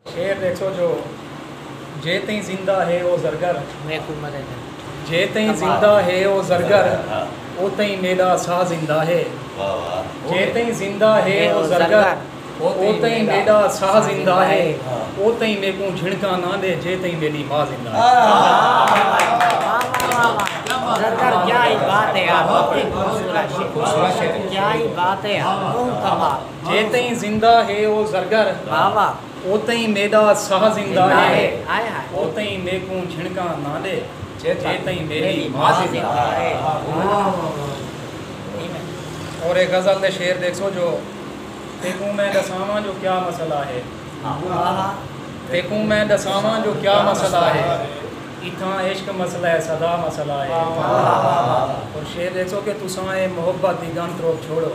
شعر ݙیکھو جو جے تئیں زندہ ہے او زرگر جے تئیں زندہ ہے او زرگر او تئیں میݙا ساہ زندہ ہے جے تئیں زندہ ہے او زرگر او تئیں میݙا ساہ زندہ ہے او تئیں میکوں جھنکاں نہ ݙے جے تئیں میݙی ماء زندہ ہے کیا ہی بات ہے یار بہت ہی خوبصورت شعر کیا ہی بات ہے یار کمال جے تئیں زندہ ہے او زرگر او تئیں میݙا ساہ زندہ ہے او تئیں میکوں جھنکاں نہ ݙے جے تئیں میݙی ماء زندہ ہے۔ اور اے غزل دے شعر ݙیکھسو جو تیکوں میں ݙساواں جو کیا مسئلہ ہے تیکوں میں ݙساواں جو کیا مسئلہ ہے اتھاں عشق مسئلہ ہے سدا مسئلہ ہے اور شعر ݙیکھسو کہ تساں اے محبت دی ڳن تروک چھوڑو۔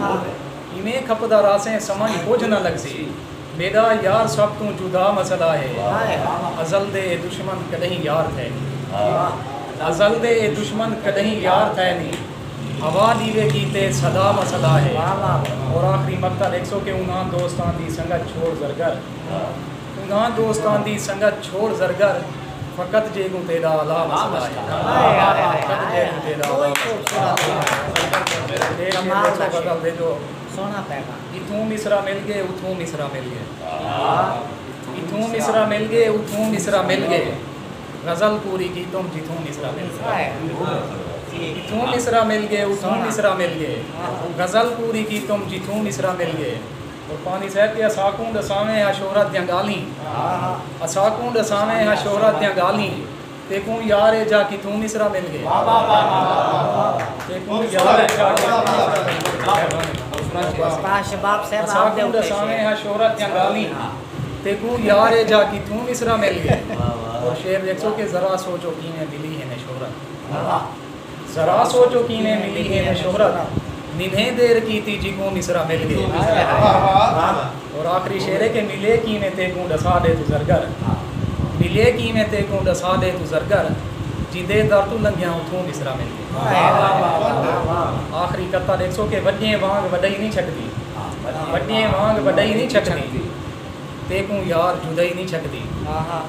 ہاں ایویں کھپدا رہسیں سمجھ کجھ نہ لگسی میݙا یار سب توں جدا مسئلہ ہے ازل دے اے دشمن کݙہیں یار تھئے نی ازل دے اے دشمن کݙہیں یار تھئے نی ہوا ݙیوے کیتے صدا مسئلہ ہے اور آخری مقتل ہک سو کے انہاں دوستاں دی سنگت چھوڑ زرگر انہاں دوستاں دی سنگت چھوڑ زرگر فقط جے کوں تیڈا عذاب سزائے۔ قربانی صاحب تے اساکوں ڈساویں ہا شہرت دیاں گالھیں اساکوں ڈساویں ہا شہرت دیاں گالھیں تیکوں یار اے جاہ کتھوں مصرع مل گئے تیکوں یار اے جاہ کتھوں مصرع مل گئے اساکوں ڈساویں ہا شہرت دیاں گالھیں تیکوں یار اے جاہ کتھوں مصرع مل گئے اور شعر ویکھسو کہ ذرا سوچو کیویں ملی ہن اے شہرت ذرا سوچو کیویں ملی اینویں شہرت ننھیں دیر کیتی جیکوں مصرع مل گئے اور آخری شعر کہ ملے کیویں تیکوں ڈسا ڈے توں زرگر ملے کیویں تیکوں ڈسا ڈے توں زرگر جیندے در توں لنگھیاں اتھوں مصرع مل گئے آخری قطعہ ڈیکھسو کہ وڈیئیں وانگ وڈئی نی چھکدی وڈیئیں وانگ وڈئی نی چھکدی تیکوں یار جدئی نی چھکدی